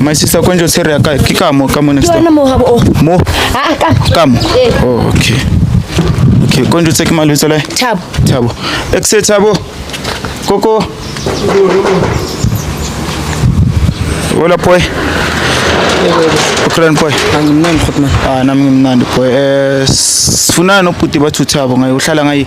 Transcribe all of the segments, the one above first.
My sister kwenjo sere yaka kikamo kamo next time. Mo habo. Oh. Mo. Ah kamo. Ah, kamo. Eh. Oh okay. Okay, kwenjo tseki malo tsole. Thabo. Thabo. Exe Thabo. Koko. Hola poi. Ukran poi. Angimnandi khotman. Ah nami ngimnandi poi. Eh sifuna no puti bathu Thabo ngayo uhlala ngayi.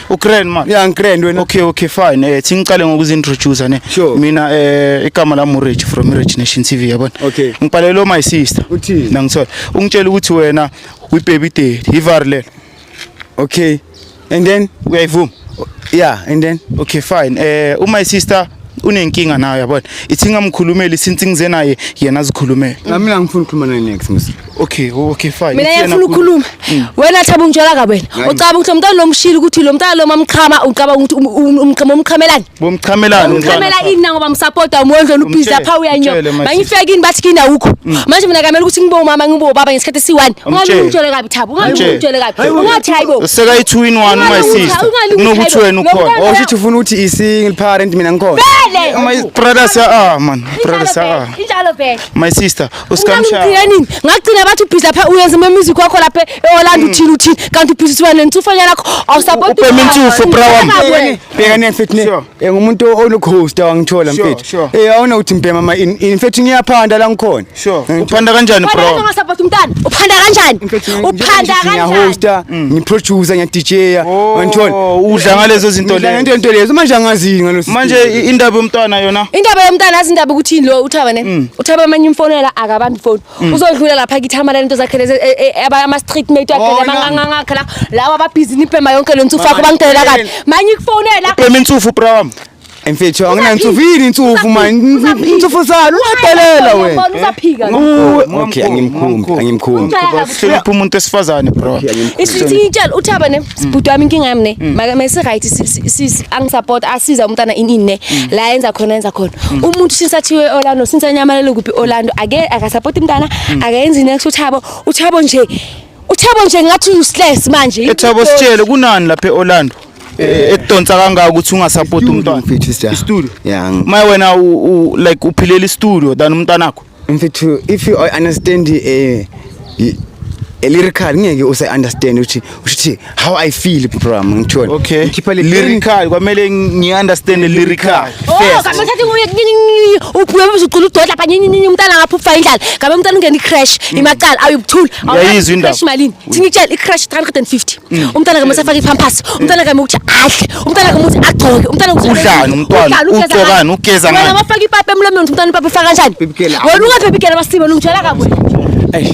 Ugrand man. Yeah, ngigrand wena. Okay, okay, fine. Eh singiqale ngokuzintroduce ne. Sure. Mina eh igama la Murage from Murage Nation TV yabona. Okay. Ngibhalelo my sister. Uthini? Nangithola. Ungitshela ukuthi wena we baby daddy. Ivarle. Okay. And then uyayivuma? Yeah, and then okay fine. Eh uh, my sister unenkinga nayo yabona. Ithi ngamkhulumeli since ngize naye yena zikhulumela. Nami ngifuna ukukhuluma naye next mse. Okay, okay fine. Mina yafuna ukukhuluma. Hmm. Wena thaba ungitshela ka wena. Ucaba ukuthi umntana lomshilo ukuthi lo mntana loma mchama ucaba ukuthi um, um, umchama umchamelani? Bomchamelani umntana. Umchamela ini nangoba msupporta umondlo ubizi lapha uyanyo. Bangifeke ini bathi kina ukho. Hmm. Manje mina kamele ukuthi ngibo mama ngibo baba ngesikhathi si1. Ungangitshele kabi thaba, ungangitshele kabi. Ungathi hayibo. Useka i2 in 1 my sister. Unokuthi wena ukhona. Osho ukuthi ufuna ukuthi i single parent mina ngikhona. Vele. My brother sa ah man. Brother sa. Injalo vele. My sister. usikamshaya ngigcina nini ngagcina bathi ubhizi lapha uyenza ama music wakho lapha eOrlando hmm. uthini uthini kanti ubhizi siwa nentsufanya lakho awusapoti ubhema intsufo bra wami bheka ne mfethu ne eh, ngumuntu olucoaster wangithola mfethu eh awona uthi mbhema ma in fact ngiyaphanda la ngikhona eh, uphanda kanjani bro ungasapoti umntana uphanda kanjani uphanda kanjani Mm. ngiproducer ngiyadija oh, wangithola udla ngalezo zinto lezo ngento into lezo manje angazi ngalo manje indaba yomntwana yona indaba yomntwana azindaba ukuthi lo uthaba ne mm. uthaba manje imfonela akabambi ifoni mm. uzodlula lapha kithi hamala lento zakhe lezi e, e, aba ama street mate wakhe oh, ngangangakhe la lawa ababhizi nipema yonke lo ntsufu wakho bangidelela kabi manje ikufonela upema intsufu bra wami Mfethu anginantsufu yini intsufu manje intsufu salo uyadelela wena usaphika okay angimkhumbi angimkhumbi sihlonipha umuntu esifazane bro isithi ngitshela uthaba ne sibhuti wami inkinga yami ne mm. maka mase right sis angisupport asiza umntana ini ne mm. la yenza khona yenza khona mm. umuntu since athiwe Orlando since anyamalele kuphi Orlando ake akasupport umntana akayenzi next uthabo uthabo nje uthabo nje ngathi useless manje ethabo sitshele kunani lapha eOrlando e, e, ekudonsa kangaka ukuthi ungasapoti umntwana mfethu sija studio yeah my wena u like uphilela istudio than umntwana wakho mfethu if you understand eh a lyrical ngeke use understand ukuthi uthi how I feel program ngithole okay ngikhipha le lyrical kwamele ngi understand the lyrical oh kambe thathi nguye uphume ubuzucula udodla lapha nyini nyini umntana ngapha ufa indlala kambe umntana ungena icrash mm. imaqala ayubuthula yayizwa indaba crash malini mm. thini tshela icrash 350 mm. umntana kambe usafaka ipampers umntana kambe ukuthi adle umntana kambe ukuthi agcoke umntana ukuthi udlani umntwana ugcokani ugeza ngani wena mafaka ipape emlomeni umntana ipape ufaka kanjani wena ungaphephi gela basibe lungitshela kabwe eish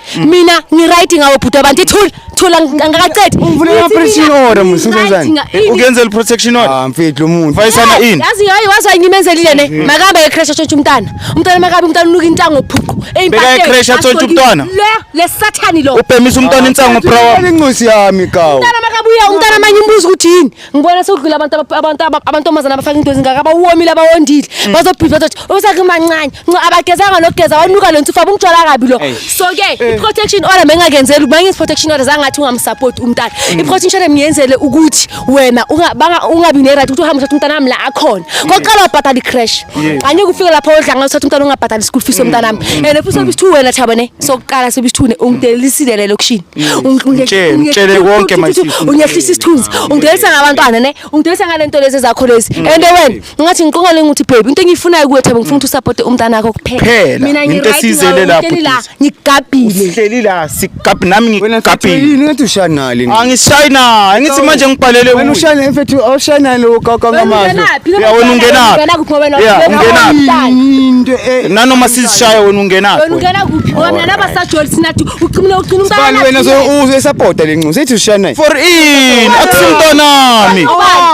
Mm. mina ngiright ngawo bhuti abantu ithula thula angakaqedi ungivulele protection order mfethu senzani eh, ukenzela protection order ah mfethu umuntu vayisana eh, ini yazi hayi wazi ngimenzelile ne mm. makabe ke crash atshontsha umntana umntana makabe umntana unuka intango phuqu beka ke crash atshontsha umntana le le sathani lo ubhemisa umntana ah, insango prawa incosi yami kawo umntana makabuya umntana manye umbuzo ukuthi yini ngibona sekudlula abantu aba- abantu aba- abantombazana abafaka into ezingaka abawomile abawondile Mm. bazobhidla bazothi usekumancane nco abagezanga nokugeza wanuka lo nsifa bumtshwala kabi lo Eish. so ke Eh. i-protection order bengingakenzeli ukuba ngenza i-protection order zangathi ungamsapoti umntana Mm. i-protection order ngiyenzele ukuthi wena unga- banga- ungabi ne-right ukuthi uhambe uthatha umntana wami la akhona kokuqala wabhatala i-crash Yes. Mm. angeke ufike lapho odlanga uthatha umntana ungabhatali i-school fees yomntana wami and futhi sebisithi wena thaba ne sokuqala sebisithi ungidelilisile le lokishini Mtshele mtshele konke mayisi. Ungehlisa isithunzi. Ungidelisa ngabantwana ne. Ungidelisa ngalento lezi zakho lezi. Mm. And wena ngathi ngiqongole ngithi baby into engiyifunayo kuwe Thabo ngifuna ukuthi usupport umntana wakho kuphela. Mina into esizele lapho. Ngigabhile. Uhleli la sigabhi nami ngigabhile. Yini ngathi ushanali. Angishayina. Angithi manje ngibhalele uwe. Wena ushayina mfethu awushayina lo kaka ngamazwi. Ya wena ungenaphi? Wena kuphi wena? Ya ungenaphi? Into e- nanoma sizishaya wena ungenaphi? Wena ungenaphi? Wena nabasajoli sinathi Ucimile ugcina umntana. Sibani wena so usapota lenxusa ethi ushiya naye. For in akusumntanami.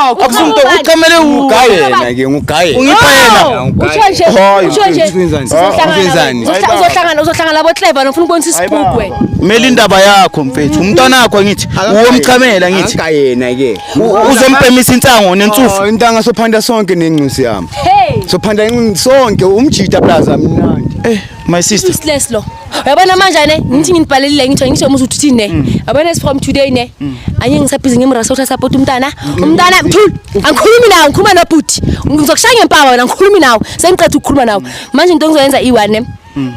Akusumnto ucamele ugaye yena ke ngugaye. Ungipha yena. Usho nje. Usho nje. Uzohlangana. Uzohlangana uzohlangana labo clever nofuna ukubonisa isibugwe. Mela indaba yakho mfethu. Umntwana wakho ngithi uwomchamela ngithi. Aka yena ke. Uzompemisa insango nensufu. Intanga sophanda sonke nenxusi yami. Sophanda sonke umjita plaza mnandi. Eh. My sister. Useless lo. Uyabona manje ne ngithi nginibhalelile ngithiwa ngisho umuzi uthi ne. Mm. Yabona is from today ne. Mm. Anye ngisabhizi ngimrasa uthatha support umntana. Mm. Umntana mthul. Angikhulumi nawe ngikhuluma nobhuti. Ngizokushaya ngempama wena ngikhulumi nawe. Sengiqeda ukukhuluma nawe. Manje into engizoyenza i1 ne.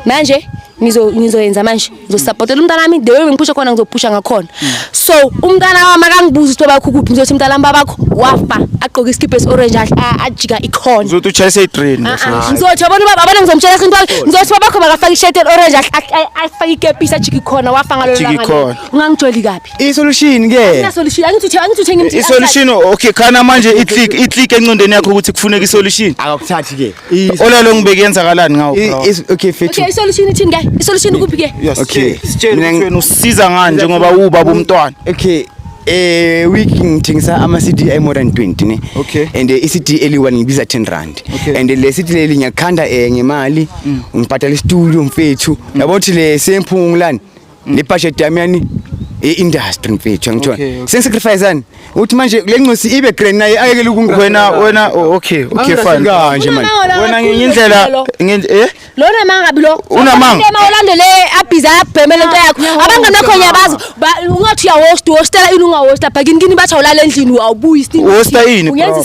Manje ngizo ngizoyenza manje. ngizosapotela umntana wami the way bengiphusha khona ngizophusha ngakhona so umntana wami akangibuza ukuthi babakho kuphi ngizothi mntana wami babakho wafa agqoke isikibha esi-orange ajika ikhona uzothi utshayise idrain ah, ah. ngizothi abona ubaba abona ngizomtshela sintu wami ngizothi babakho makafake ishirt eli-orange afake ikepisi ajika ikhona wafa ngalololanga ungangijoli kabi isolution ke isolution angithi angithi uthenga isolution okay khana manje i-click i-click encondweni yakho ukuthi kufuneka isolution akakuthathi ke Ola lo ngibeke yenzakalani ngawo bro? Okay fethu. Okay isolution ithini ke? Isolution kuphi ke? Okay. Sitshela ukuthi wena usiza ngani njengoba ubaba umntwana. Okay. eh week ngithengisa ama CD ay more than 20 ne okay. and eh, i CD eli1 ngibiza 10 rand okay. and eh, le CD leli ngiyakhanda eh ngemali mm. ngibhadala istudio mfethu mm. yabo thi le semphungulani ne budget yami yani i-industry mfethu angitshona okay, okay. sengisacrificeani uthi manje le ncosi ibe grand naye ayekele ukunga wena wena oh, okay okay fine kanje manje wena ngenye indlela ngenye eh lona mangabi lo unamanga ema ulandele abhiza abhemele into yakho abangane bakho ngiyabazi ungathi uyahost hostela ini ungahosta bhakini kini bathi awulala endlini awubuyi sini hosta ini uyenza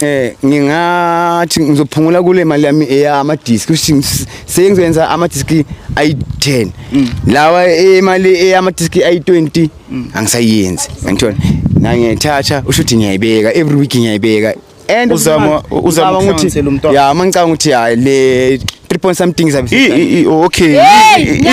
eh ngingathi ngizophungula kule mali yami eyama disk kusho sengizoyenza ama disk ayi10 mm. lawa imali eyama disk ayi20 mm. angisayenzi ngithola na ngiyathatha usho ukuthi ngiyayibeka every week ngiyayibeka and uzama uzama ukuthi ya mangicanga ukuthi ya le 3 point something zabe okay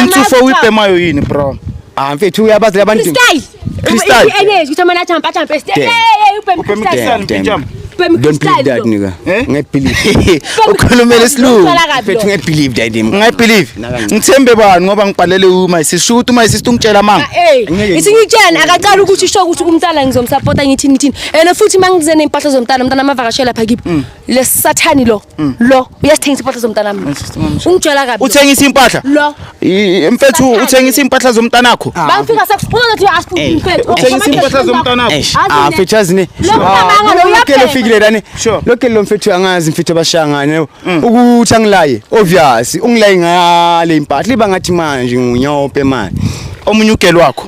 intsufo uyibhemayo yini bro ah mfethu uyabazi labantu style Crystal. If any, you tell me not jump, jump. Hey, hey, you pay me crystal. Damn, damn. Jump. Don't believe that nigga. Eh? Ngeke believe. Ukhulumela isilungu. Mfethu ngeke believe that him. Ngeke believe. Ngithembe bani ngoba ngibhalele uma sisho ukuthi uma sisi ungitshela amanga. Eh. Isingitshela akaqala ukuthi usho ukuthi umntana ngizomsupporta ngithini ngithini. And futhi mangize nempahla zomntana umntana amavakashela lapha kibo. Lesathani lo. Mm. lo uyasithengisa impahla zomntanami Yes, sister, mama, sure. ungitshela kabi uthengisa impahla lo I- I- mfethu Bahlale. uthengisa impahla zomntanakho Ah, bangifika sekuphuma ngathi uyasifuna Ey, umfethu uthengisa impahla zomntanakho Eish, Azi ah ne- mfethu azi ne Lo mntwana lo lokele uyabhema. ofikile lani Sure. lokele lo mfethu angazi mfethu abashangane ukuthi angilaye obvious ungilaye ngale impahla iba ngathi manje ngunyophe manje omunye ugelo wakho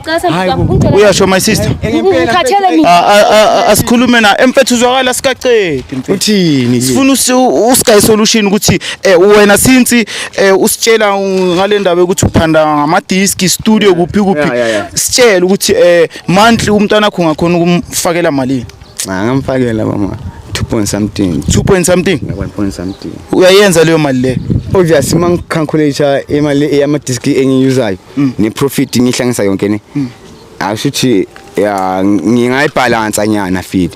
uyasho my sister asikhulume na emfethu uzwakala sikacedi uthini sifuna usky solution ukuthi eh, wena since eh, usitshela ngale ndaba ukuthi uphanda ngamadiski studio kuphi kuphi sitshela ukuthi eh, monthly umntwana wakho ngakhona ukumfakela malini ngamfakela mama 2 point something 2 point something 1 point something uyayenza leyo mali le obviously mangicalculate imali yama disk engiyuzayo mm. ne profit ngihlangisa yonke ne mm. asho ukuthi ya ngingayibhalansa nyana feed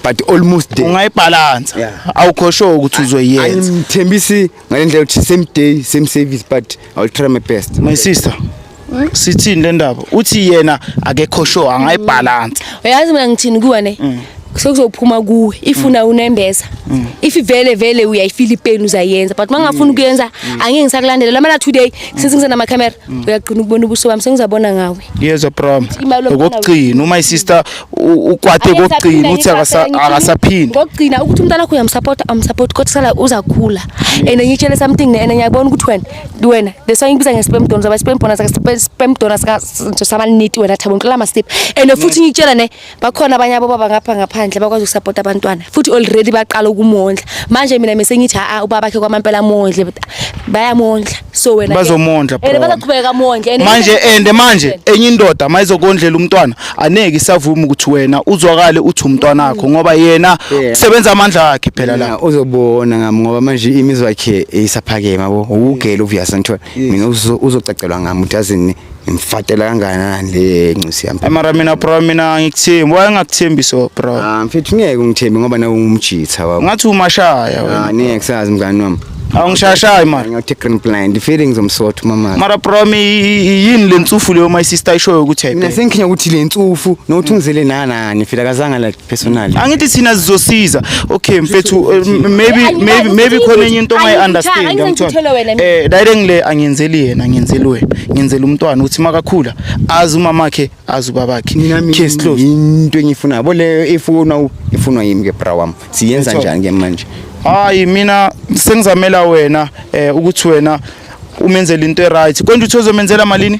but almost there ungayibhalansa awukho sure ukuthi uzoyenza angithembisi ngalendlela ukuthi same day same service but i will try my best my sister sithini le ndaba uthi yena akekho sure angayibhalansa uyazi mina ngithini kuwe ne mm. sekuzophuma kuwe ifuna mm. unembeza mm. if vele vele uyayifila ipeni uzayenza but mangafuni ukuyenza mm. angeke ngisakulandela lamana today since ngizana ama camera uyagcina ukubona ubuso bami sengizabona ngawe yezwa prom okugcina uma isister ukwate kokugcina uthi akasaphindi ngokugcina ukuthi umntana wakho uyamsupport amsupport kodwa sala uzakhula and ngitshele something ne and ngiyabona ukuthi wena wena the song ngibiza nge spam donors aba spam donors aka spam donors ka samaniti wena thabo ngicela ama step and futhi ngitshela ne bakhona abanye abobaba ngapha ngaphandle bakwazi ukusapota abantwana futhi already baqala ukumondla manje mina mese ngithi a ubaba bakhe kwamampela mondle but bayamondla so wena bazomondla bro and bazaqhubeka mondle manje and manje enye indoda mayizokondlela umntwana aneke isavuma ukuthi wena uzwakale uthi umntwana wakho ngoba yena usebenza amandla akhe phela la uzobona ngami ngoba manje imizwa yakhe isaphakema bo ukugela uvuyasa ngithola mina uzocacelwa ngami uthi azini Ngimfatela kangakanani le ncisi yami? Ay mara mina bro mina angikuthembi. Why ngakuthembi so bro? Ah mfethu ngeke ungithembe ngoba nawe ungumjitha wabo. Ngathi umashaya wena. Ah ngeke sazi mngani wami. Awungishashayi mara. Ngathi green blind. The feelings omsotho mama. Mara bro mi yini le ntsufu leyo my sister ishoyo ukuthi Mina sengikhinya ukuthi le ntsufu nokuthi ungizele nanani fika kazanga like personally angithi thina sizosiza okay mfethu uh, maybe maybe maybe khona enye into ongayi understand yamthola eh dayile ngile angiyenzeli yena ngiyenzeli wena ngiyenzela umntwana uthi makakhula azi umama wakhe azi ubaba wakhe case closed into engifuna yabo leyo ifuna ifunwa yimi ke bra wami siyenza njani ke manje hayi mina sengizamela wena eh ukuthi wena umenzele into e right konje uthi uzomenzela malini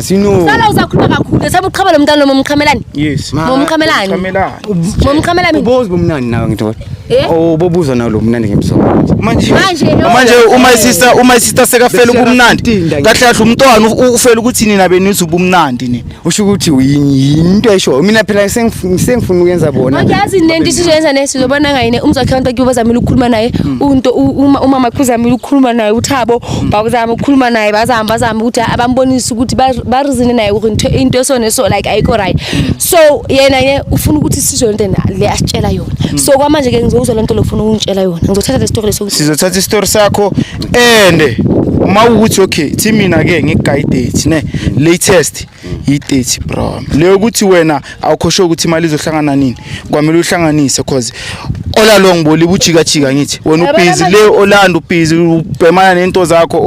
Sino. Sala uzakhuluma kakhulu. Saba uqhaba lo mntana lo momqhamelani? Yes. Momqhamelani. Momqhamelani. Momqhamelani. Ubozi bomnandi nawe ngithola. Eh? Oh, bobuza nawe lo mnandi ngemsomo. Manje. Manje. Manje uma isista uma isista sekafela ubumnandi. Kahle kahle umntwana ufela ukuthi nina benizwe ubumnandi nini. Usho ukuthi uyinto esho. Mina phela sengifuna uyenza bona. Angiyazi nento isizoyenza nesi zobona ngayine umzakhe abantu kuyoba zamile ukukhuluma naye. Hmm. Unto uma maqhuzamile ukukhuluma naye uthabo bakuzama ukukhuluma naye bazama bazama ukuthi abambonise ukuthi barizine naye ukuthi into esone so like ayikho right so yena ye ufuna ukuthi sizwe lento le asitshela yona hmm. so kwamanje ke ngizokuzwa lento lokufuna ukungitshela yona ngizothatha le story leso sizothatha istory sakho ende uma ukuthi okay thi mina ke ngigayidate ne latest yi-30 bro leyo ukuthi wena awukhoshe ukuthi imali izohlangana nini kwamele uhlanganise cause all along boliba ujikajika ngithi wena ubhizi le olanda ubhizi ubhemana nento zakho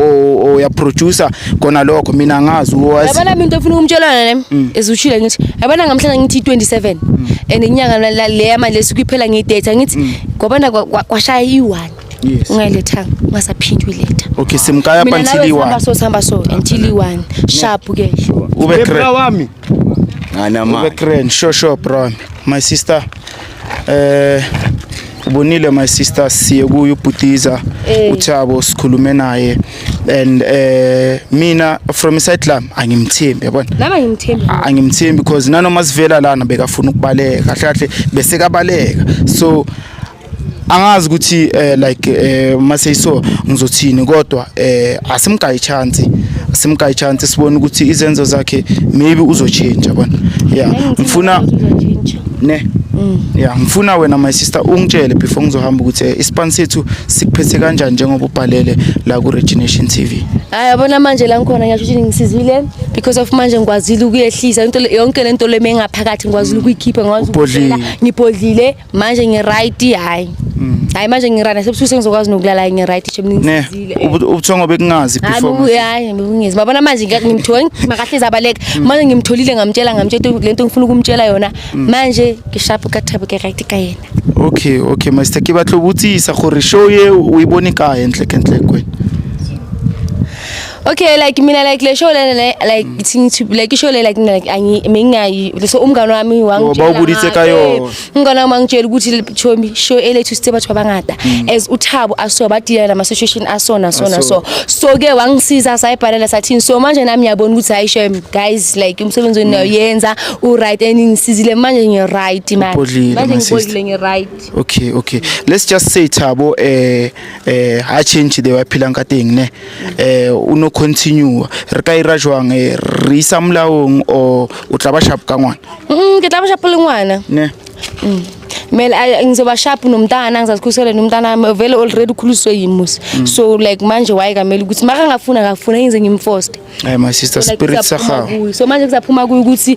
uyaproducer khona lokho mina ngazi yabona mina into efuna ukumtshelana nami mm. ezushile ngithi yabona ngamhlanje ngithi 27 mm. and inyanga le yamanje sikuyiphela ngidate ngithi mm. kwabana kwashaya i-one Yes. Ungayiletha ungasaphindi uyiletha. Okay, simkaya up until i-1. Mina nawe so sihamba so until i-1. Sharp ke. Ube crack. Bra wami. Ngana ma. Ube crack. Sure sure bro. My sister. Eh uh, ubonile my sister siye kuye ubhutiza eh. uthabo sikhulume naye and eh mina from side lam angimthembi yabona nami angimthembi angimthembi because nanoma sivela lana bekafuna ukubaleka kahle kahle besekabaleka so angazi ukuthi uh, like uh, eh, maseyiso ngizothini kodwa uh, asimgayi chance asimgayi chance sibone ukuthi izenzo zakhe maybe uzotshintsha bona yeah ngifuna ne mm. yeah ngifuna wena my sister ungitshele before ngizohamba ukuthi eh, ispan sethu sikuphethe kanjani njengoba ubhalele la ku Regination TV hayi yabona manje la ngikhona ngisho ukuthi ngisizile because of manje ngikwazile ukuyehlisa into yonke lento leme ngaphakathi ngikwazile mm. ukuyikhipha ngikwazi ukubhodlela ngibhodlile manje ngiright hayi mm. hayi manje ngirana sebusuku sengizokwazi nokulala ngiright nje mningisizile eh. ubuthongo bekungazi before hayi bekungezi babona manje ngimtholi makahle zabaleka mm. manje ngimtholile ngamtshela ngamtshela lento ngifuna ukumtshela yona mm. manje ngishapu ka thabo ke right ka yena okay okay master ke batlo butsisa gore show ye uyibone ka entle kentle kwena Okay like mina like le show lena le like thing to like ishow le like like angi mengayi so umngane wami wangitshela bawubulise kayo ngona uma ngitshela ukuthi chomi show ele to step bathu abangada mm. as uthabo aso badila nama situation asona sona so so ke wangisiza sayibhalela sathini so manje nami yabona ukuthi hayi shem guys like umsebenzi wenu mm. yenza u right and ngisizile manje ngi right man manje ngibodile ngi right okay okay let's just say thabo eh eh ha change the waphila nkateng ne eh o no continue re ka ira jwang eh, re isa molaong o o tla ba sharp ka ngwana mm ke tla ba sharp le ngwana ne mm. mele ngizoba sharp nomntana ngizazikhusele nomntana wami vele already ukhuliswe yimusi mm. so like manje waye kamele ukuthi makangafuna akafuna ngize ngimforce hayi my sister spirit sakhawo so manje kuzaphuma kuyo ukuthi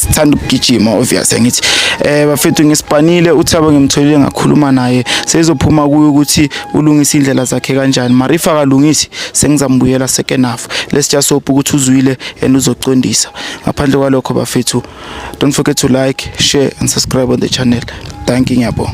sithanda ukugijima obvious ngithi eh bafethu ngisipanile uthabo ngimtholile ngakhuluma naye sezophuma kuyo ukuthi ulungisa indlela zakhe kanjani marifa kalungisi sengizambuyela second half let's just hope ukuthi uzwile and uzocondisa ngaphandle kwalokho bafethu don't forget to like share and subscribe on the channel thank you ngiyabonga